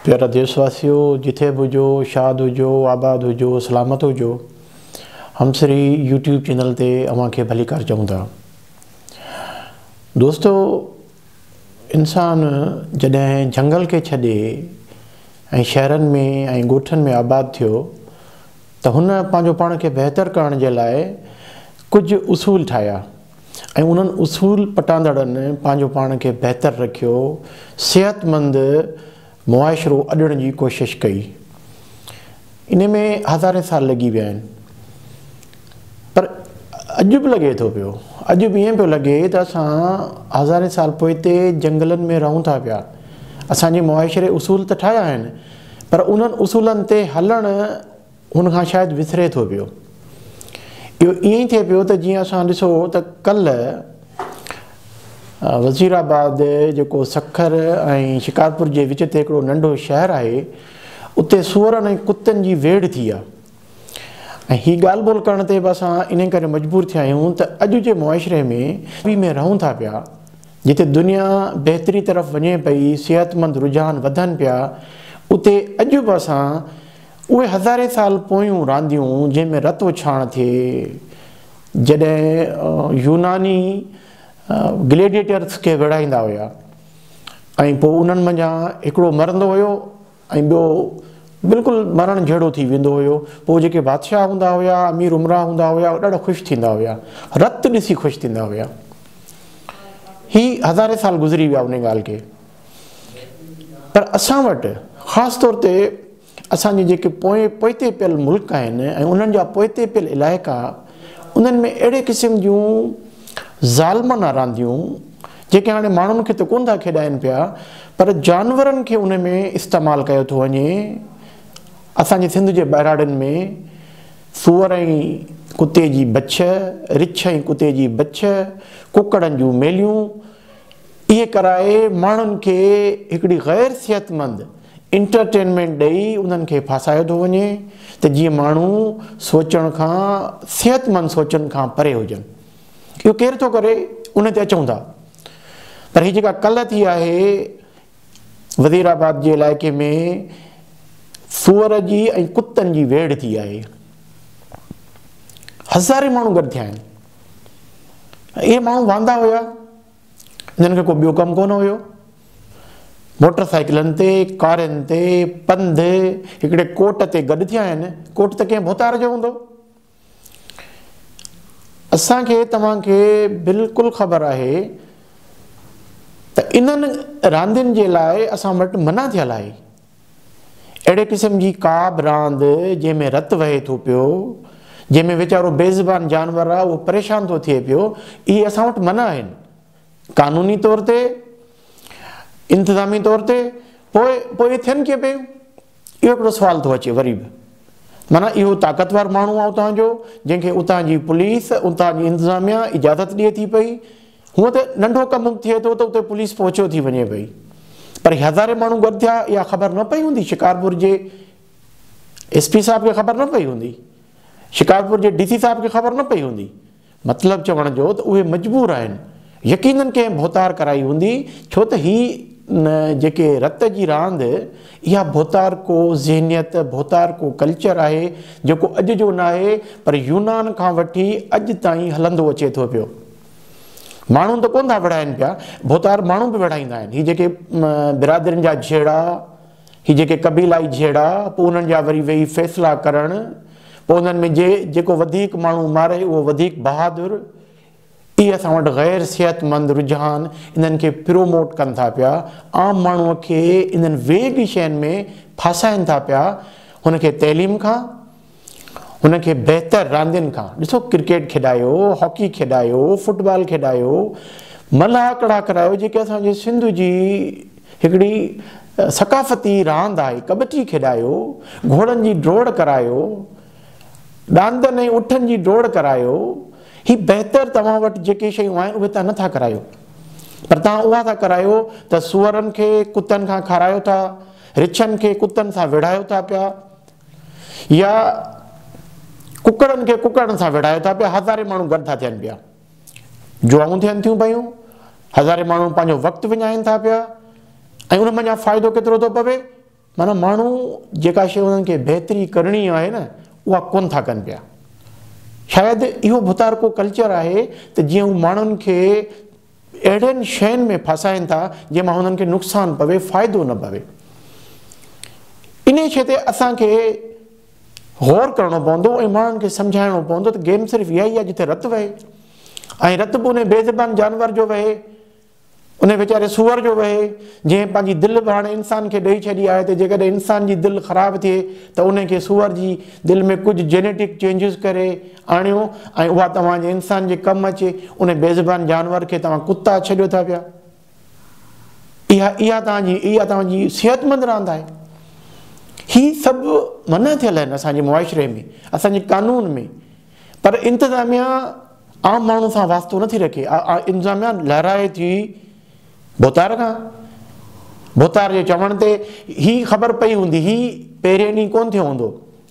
پيارا ديس واسيو جٿي به هجو شاد هجو آباد هجو سلامت هجو همسري يوٽيوب چينل تي اوهان کي ڀليڪار چئون ٿا دوستو انسان جڏهن جهنگل کي ڇڏي ۽ شهرن ۾ ۽ ڳوٺن ۾ آباد ٿيو ته هن پنهنجو پاڻ کي بهتر ڪرڻ جي لاء ڪجهه اصول ٺاهيا ۽ انهن اصول پٽاندڙن پنهنجو پاڻ کي بهتر رکيو، صحتمند معاشرو اڏڻ جي ڪوشش ڪئي. انهي ۾ هزارين سال لڳي ويا آهن. پر اڄ به لڳي ٿو پيو. اڄ به ائين پيو لڳي ته اسان هزارين سال پوئتي جهنگلن ۾ رهون ٿا پيا. اسان جي معاشري اصول ته ٺاهيا آهن، پر انهن اصولن تي هلڻ ان کان شايد وسري ٿو پيو. اهو ائين ئي ٿئي پيو ته جيئن اسان ڏسو ته ڪلهه وزير آباد جيڪو سکر ۽ شڪارپور جي وچ تي هڪڙو ننڍو شهر آهي اتي سوئرن ۽ ڪتن جي ويڙهه ٿي آهي ۽ هي ڳالهه ٻولهه ڪرڻ تي به اسان انهي ڪري مجبور ٿيا آهيون ته اڄ جي معاشري ۾ ۾ رهون ٿا پيا جتي دنيا بهتري طرف وڃي پئي صحتمند رجحان وڌن پيا اتي اڄ به اسان اهي هزارين سال پويون رانديون جنهن ۾ رت اڇاڻ ٿئي، جڏهن يوناني گليڊيئيٽرز کي ويڙهائيندا هيا ۽ پوء انهن منجهان هڪڙو مرندو هيو ۽ ٻيو بلڪل مرڻ جهڙو ٿي ويندو هيو، پوء جيڪي بادشاهه هوندا هيا، امير امراء هوندا هيا، اهي ڏاڍا خوش ٿيندا هيا، رت ڏسي خوش ٿيندا هيا. هي هزارين سال گذري ويا انهي ڳالهه کي پر اسان وٽ خاص طور تي اسان جون جيڪي پوئين پوئتي پيل ملڪ آهن ۽ انهن جا پوئتي پيل علائقا انهن ۾ اهڙي قسم جون ظالمانه رانديون جيڪي هاڻي ماڻهن کي ته ڪونه ٿا کيڏائين پيا پر جانورن کي انهن ۾ استعمال ڪيو ٿو وڃي اسان جي سنڌ جي ٻهراڙين ۾ سوئر ۽ ڪتي جي بڇ، رڇ ۽ ڪتي جي بڇ، ڪڪڙن جون ميليون اهي ڪرائي ماڻهن کي هڪڙي غير صحتمند انٽرٽينمينٽ ڏئي انهن کي ڦاسايو ٿو وڃي ته جيئن ماڻهو سوچڻ کان صحتمند سوچن کان پري هجن. اهو ڪير ٿو ڪري ان تي اچون ٿا پر هي جيڪا ڪلهه ٿي آهي وزير آباد جي علائقي ۾ سوئر جي ۽ ڪتن جي ويڙهه ٿي آهي هزارين ماڻهو گڏ ٿيا آهن. اهي ماڻهو واندا هيا جن کي ڪو ٻيو ڪم ڪونه هيو موٽر سائيڪلن تي ڪارين تي پنڌ هڪڙي ڪوٽ تي گڏ ٿيا آهن ڪوٽ ته ڪنهن ڀوتار جو هوندو اسان کي توهان کي بلڪل خبر آهي ته انهن راندين جي لاء اسان وٽ منع ٿيل آهي اهڙي قسم جي ڪا به راند جنهن ۾ رت وهي ٿو پيو، جنهن ۾ ويچارو بي زبان جانور آهي اهو پريشان ٿو ٿئي پيو، اهي اسان وٽ منع آهن. قانوني طور تي، انتظامي طور تي، پوء پوء اهي ٿين ڪيئن پيون؟ اهو هڪڙو سوال ٿو اچي وري به. معنيٰ اهو طاقتور ماڻهو آهي اتان جو، جنهن کي اتان جي پوليس، اتان جي انتظاميا اجازت ڏئي ٿي پئي هونء ته ننڍو ڪم به ٿئي ٿو ته اتي پوليس پهچيو ٿي وڃي پئي پر هي هزارين ماڻهو گڏ ٿيا اها خبر نه پئي هوندي شڪارپور جي ايس پي صاحب کي خبر نه پئي هوندي شڪارپور جي ڊي سي صاحب کي خبر نه پئي هوندي مطلب چوڻ جو ته اهي مجبور آهن يقينن ڪنهن ڀوتار ڪرائي هوندي ڇو ته هي جيڪي رت جي راند اها ڀوتار ڪو ذهنيت ڀوتار ڪو ڪلچر آهي جيڪو اڄ جو ناهي پر يونان کان وٺي اڄ تائين هلندو اچي ٿو پيو ماڻهو ته ڪونه ٿا وڙهائن پيا، ڀوتار ماڻهو به وڙهائيندا آهن. هي جيڪي برادرين جا جهيڙا، هي جيڪي قبيلائي جهيڙا، پوء انهن جا وري ويهي فيصلا ڪرڻ، پوء انهن ۾ جي جيڪو وڌيڪ ماڻهو ماري اهو وڌيڪ بهادر، اهي اسان وٽ غير صحتمند رجحان انهن کي پروموٽ ڪن ٿا پيا، عام ماڻهو کي انهن ويڳ شين ۾ ڦاسائين ٿا پيا، هن کي تعليم کان، هن کي بهتر راندين کان ڏسو ڪرڪيٽ کيڏايو، هاڪي کيڏايو، فٽبال کيڏايو، ملهه ڪڙا ڪرايو جيڪي اسان جي سنڌ جي هڪڙي ثقافتي راند آهي، ڪٻٽي کيڏايو، گهوڙن جي ڊوڙ ڪرايو، ڏاندن ۽ اٺن جي ڊوڙ ڪرايو، هي بهتر توهان وٽ جيڪي شيون آهن اهي تان نه ٿا ڪرايو پر تان اها ٿا ڪرايو ته سوئرن کي ڪتن کان کارايو ٿا، رڇن کي ڪتن سان وڙهايو ٿا پيا، يا ڪڪڙن کي ڪڪڙن سان وڙهايو ٿا پيا، هزارين ماڻهو گڏ ٿا ٿين پيا، جوائون ٿين ٿيون پيون، هزارين ماڻهو پنهنجو وقت وڃائين ٿا پيا ۽ ان منجهان فائدو ڪيترو ٿو پوي، معنيٰ ماڻهو جيڪا شيء انهن کي بهتري ڪرڻي آهي نه اها ڪونه ٿا ڪن پيا. شايد اهو ڀتارڪو ڪلچر آهي ته جيئن هو ماڻهن کي اهڙين شين ۾ ڦاسائين ٿا جنهن مان هنن کي نقصان پوي فائدو نه پوي انهي شي تي اسان کي غور ڪرڻو پوندو ۽ ماڻهن کي سمجهائڻو پوندو ته گيم صرف اها ئي آهي جتي رت وهي ۽ رت به ان بي زبان جانور جو وهي ان ويچاري سوئر جو وهي جنهن پنهنجي دل به هاڻي انسان کي ڏئي ڇڏي آهي ته جيڪڏهن انسان جي دل خراب ٿئي ته ان کي سوئر جي دل ۾ ڪجهه جينيٽڪ چينجز ڪري آڻيو ۽ اها توهان جي انسان جي ڪم اچي، ان بيزبان جانور کي توهان ڪتا ڇڏيو ٿا پيا. اها اها توهان جي اها توهان جي صحتمند راند آهي. هي سڀ منع ٿيل آهن اسان جي معاشري ۾ اسان جي قانون ۾ پر انتظاميا عام ماڻهو سان واسطو نٿي رکي انتظاميا لهرائي ٿي ڀوتار کان ڀوتار جي چوڻ تي هي خبر پئي هوندي هي پهرين ڏينهن ڪون ٿيو هوندو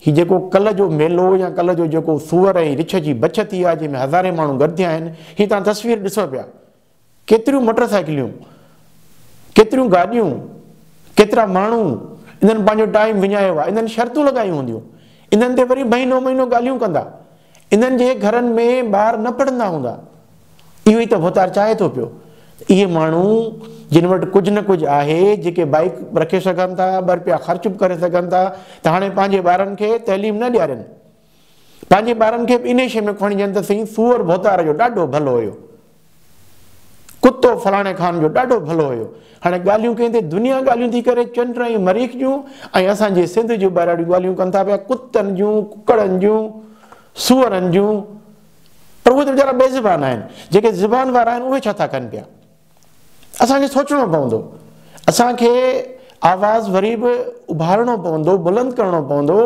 هي جيڪو ڪلهه جو ميلو يا ڪلهه جو جيڪو سوئر ۽ رڇ جي بڇ ٿي آهي جنهن ۾ هزارين ماڻهو گڏ ٿيا آهن هي توهان تصوير ڏسو پيا ڪيتريون مٽر سائيڪليون ڪيتريون گاڏيون ڪيترا ماڻهو انهن پنهنجو ٽائيم وڃايو آهي انهن شرطون لڳايون هونديون انهن تي وري مهينو مهينو ڳالهيون ڪندا انهن جي گهرن ۾ ٻار نه پڙهندا هوندا. اهو ئي ته ڀوتار چاهي ٿو پيو ته اهي ماڻهو جن وٽ ڪجهه نه ڪجهه آهي، جيڪي بائيڪ به رکي سگهن ٿا، ٻه رپيا خرچ به ڪري سگهن ٿا ته هاڻي پنهنجي ٻارن کي تعليم نه ڏيارين. پنهنجي ٻارن کي به انهي شيء ۾ ڪوڻيجن ته سائين سوئر ڀوتار جو ڏاڍو ڀلو هيو. ڪتو فلاڻي خان جو ڏاڍو ڀلو هيو. هاڻي ڳالهيون ڪنهن تي دنيا ڳالهيون ٿي ڪري چنڊ ۽ مريخ جون ۽ اسان جي سنڌ جي ٻهراڙيون ڳالهيون ڪن ٿا پيا ڪتن جون ڪڪڙن جون سوئرن جون پر اهي ته ويچارا بي زبان آهن جيڪي زبان وارا آهن اهي ڇا ٿا ڪن پيا اسان کي سوچڻو پوندو اسان کي آواز وري به اڀارڻو پوندو بلند ڪرڻو پوندو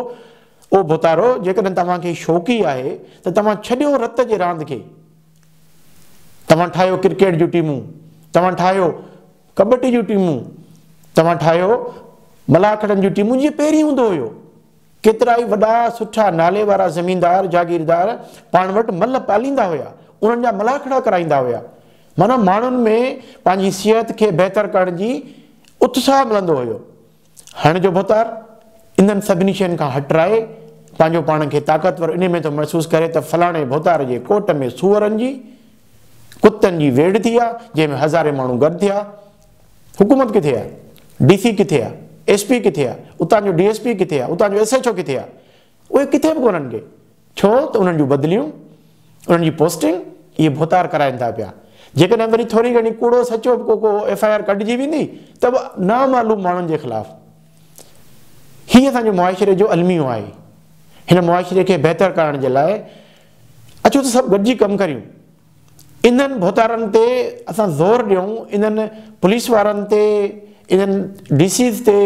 او ڀوتارو جيڪڏهن توهان کي شوقي آهي ته توهان ڇڏيو رت جي راند کي توهان ٺاهيو ڪرڪيٽ جون ٽيمون، توهان ٺاهيو ڪٻٽي جون ٽيمون، توهان ٺاهيو ملاکڙن جون ٽيمون جيئن پهرين هوندو هيو. ڪيترائي وڏا سٺا نالي وارا زميندار جاگيردار پاڻ وٽ ملهه پاليندا هيا، انهن جا ملاکڙا ڪرائيندا هيا. معنيٰ ماڻهن ۾ پنهنجي صحت کي بهتر ڪرڻ جي اتساهه ملندو هيو. هڻ جو ڀتار انهن سڀني شين کان هٽرائي پنهنجو پاڻ کي طاقتور انهي ۾ ٿو محسوس ڪري ته فلاڻي ڀتار جي ڪوٽ ۾ سوئرن جي، ڪتن جي ويڙهه ٿي آ، جنهن ۾ هزارين ماڻهو گڏ ٿيا آ. حڪومت ڪٿي آ؟ ڊي سي ڪٿي آ؟ ايس پي ڪٿي آ؟ اتان جو ڊي ايس پي ڪٿي آ؟ اتان جو ايس ايڇ او ڪٿي آ؟ اهي ڪٿي به ڪونهن ڪي ڇو ته انهن جون بدليون، انهن جي پوسٽنگ اهي ڀوتار ڪرائين ٿا پيا. جيڪڏهن وري ٿوري گهڻي ڪوڙو سچو به ڪو ڪو ايف آء آر ڪڍجي ويندي ته به نامعلوم ماڻهن جي خلاف. هي اسان جي معاشري جو الميو آهي. هن معاشري کي بهتر ڪرڻ جي لاء اچو ته سڀ گڏجي ڪم ڪريون. انهن ڀوتارن تي اسان زور ڏيون، انهن پوليس وارن تي، انهن ڊي سيز تي،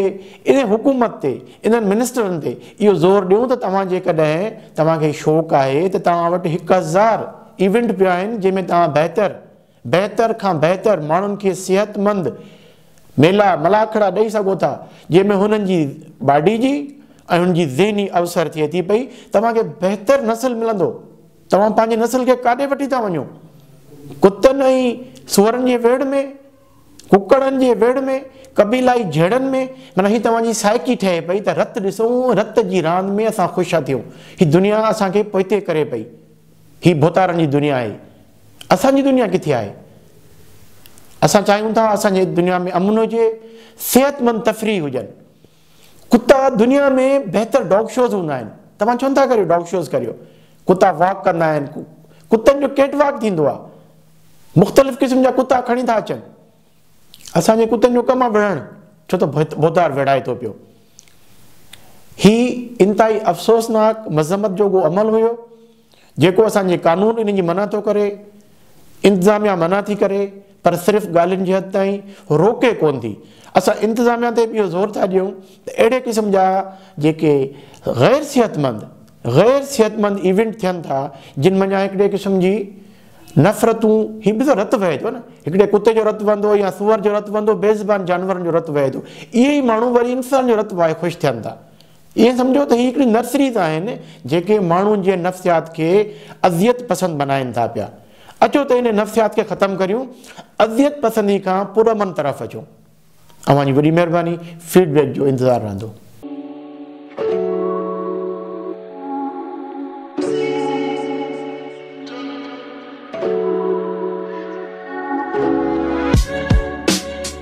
انهي حڪومت تي، انهن منسٽرن تي اهو زور ڏيون ته توهان جيڪڏهن توهان کي شوق آهي ته توهان وٽ هڪ هزار ايونٽ پيا آهن جنهن ۾ توهان بهتر بهتر کان بهتر ماڻهن کي صحت مند ميلا ملاکڙا ڏئي سگهو ٿا جنهن ۾ هنن جي باڊي جي ۽ هنن جي ذهني اوسر ٿئي ٿي پئي توهان کي بهتر نسل ملندو. توهان پنهنجي نسل کي ڪاڏي وٺي ٿا وڃو؟ ڪتن ۽ سوئرن جي ويڙهه ۾؟ ڪڪڙن جي ويڙهه ۾؟ قبيلائي جهيڙن ۾؟ معنيٰ هي توهان جي سائيڪي ٺهي پئي ته رت ڏسو ۽ رت جي راند ۾ اسان خوش ٿا ٿيون. هي دنيا اسان کي پوئتي ڪري پئي. هي ڀوتارن جي دنيا آهي. اسان جي دنيا ڪٿي آهي؟ اسان چاهيون ٿا اسان جي دنيا ۾ امن هجي، صحتمند تفريح هجن. ڪتا دنيا ۾ بهتر ڊاگ شوز هوندا آهن توهان ڇو نٿا ڪريو ڊاگ شوز ڪريو ڪتا واڪ ڪندا آهن ڪتن جو ڪيٽ واڪ ٿيندو آهي مختلف قسم جا ڪتا کڻي ٿا اچن اسان جي ڪتن جو ڪم آهي وڙهڻ ڇو ته بوتار وڙهائي ٿو پيو هي انتهائي افسوسناڪ مذمت جوڳو عمل هيو جيڪو اسان جي قانون ان جي منع ٿو ڪري، انتظاميا منع ٿي ڪري پر صرف ڳالهين جي حد تائين، روڪي ڪونه ٿي. اسان انتظاميا تي به اهو زور ٿا ڏيون ته اهڙي قسم جا جيڪي غير صحتمند، غير صحتمند ايونٽ ٿين ٿا جن منجهان هڪڙي قسم جي نفرتون، هي به ته رت وهي ٿو نه، هڪڙي ڪتي جو رت وهندو يا سوئر جو رت وهندو، بي زبان جانورن جو رت وهي ٿو، اهي ئي ماڻهو وري انسان جو رت وهائي خوش ٿين ٿا. ائين سمجهو ته هي هڪڙي نرسريز آهن جيڪي ماڻهن جي نفسيات کي اذيت پسند بنائين ٿا پيا. اچو ته انهي نفسيات کي ختم ڪريون، اذيت پسندي کان پرامن طرف اچون. اوهان جي وڏي مهرباني، فيڊ بيڪ جو انتظار رهندو.